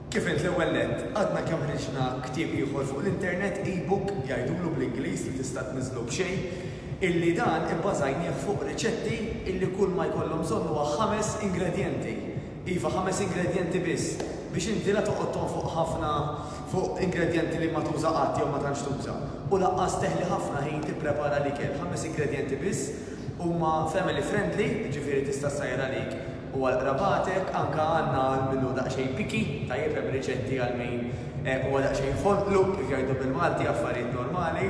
Kif għidt l-ewwel nett, għadna kemm ħriġna ktieb ieħor fuq l-internet, e-book jgħidulu bl-Ingliż li tista' tniżżlu b'xejn, illi dan ibbażajnieh fuq riċetti illi kull ma jkollhom bżonn huwa ħames ingredjenti, iva ħames ingredjenti biss, biex inti la toqgħod tonfoq ħafna fuq ingredjenti li ma tuża qatt jew ma tantx tuża, u lanqas teħli ħafna ħin tipprepara l-ikel, ħames ingredjenti biss, huma family friendly, jiġifieri tista' ssajjar għalik U għal qrabatek anke għandna għal min hu daqsxejn picky, tajjeb hemm riċetti għal min huwa daqsxejn ħonqlu, kif jgħidu bil-Malti, affarijiet normali.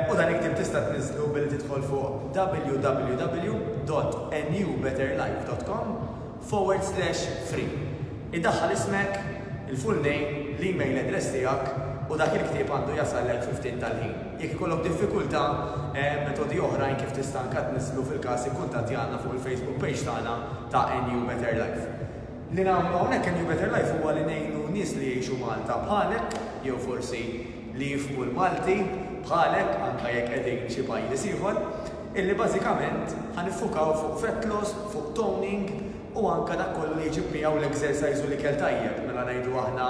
U dan il-ktieb tista' tniżżlu billi tidħol fuq www.anewbetterlife.com forward slash free. Iddaħħal ismek, il-full name, l-email address tiegħek u dak il-ktieb għandu jasallek fi ftit tal-ħin. Jekk ikollok diffikultà hemm metodi oħrajn kif tista' anka tniżżlu fil-każ ikkuntattjana fuq il-Facebook page tagħna ta' NU Better Life. Li nagħmlu hawnhekk NU Better Life huwa li ngħinu nies li jgħixu Malta bħalek jew forsi li jifhmu l-Malti bħalek anka jekk qegħdin xi pajjiż ieħor illi bażikament ħa niffukaw fuq fat loss, fuq toning, U anke dak kollu li jġib miegħu l-exercise u l-ikel tajjeb, mela ngħidu aħna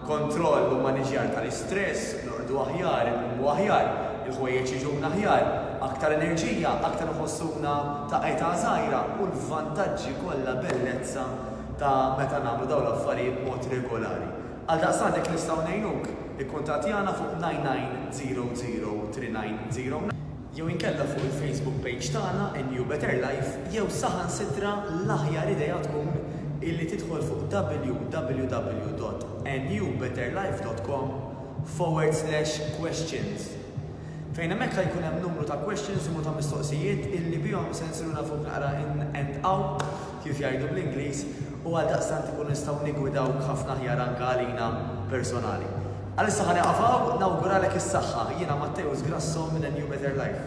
kontroll u maniġjar tal-istress, norqdu aħjar, inqumu aħjar, il-ħwejjeġ jiġuna aħjar, aktar enerġija, aktar nħossuna ta' età żgħira u l-vantaġġi kollha bellezza ta' meta nagħmlu dawn l-affarijiet b'mod regolari. Għaldaqstant jekk nistgħu ngħinuk, ikkuntattjana fuq 9900 3909. jew inkella fuq il-Facebook page tagħna A New Better Life jew saħansitra l-aħjar idea tkun illi tidħol fuq www.anewbetterlife.com forward slash questions fejn hemmhekk ħa jkun hemm numru ta' questions numru ta' mistoqsijiet illi bihom se nsiru nafuk naqra in and out kif jgħidu bl-Ingliż u għaldaqstant ikunu nistgħu niggwidawk ħafna aħjar anke għalina personali. Għalissa ħa nieqaf hawn, nawguralek is-saħħa. Jiena Matteus Grasso minn A New Better Life.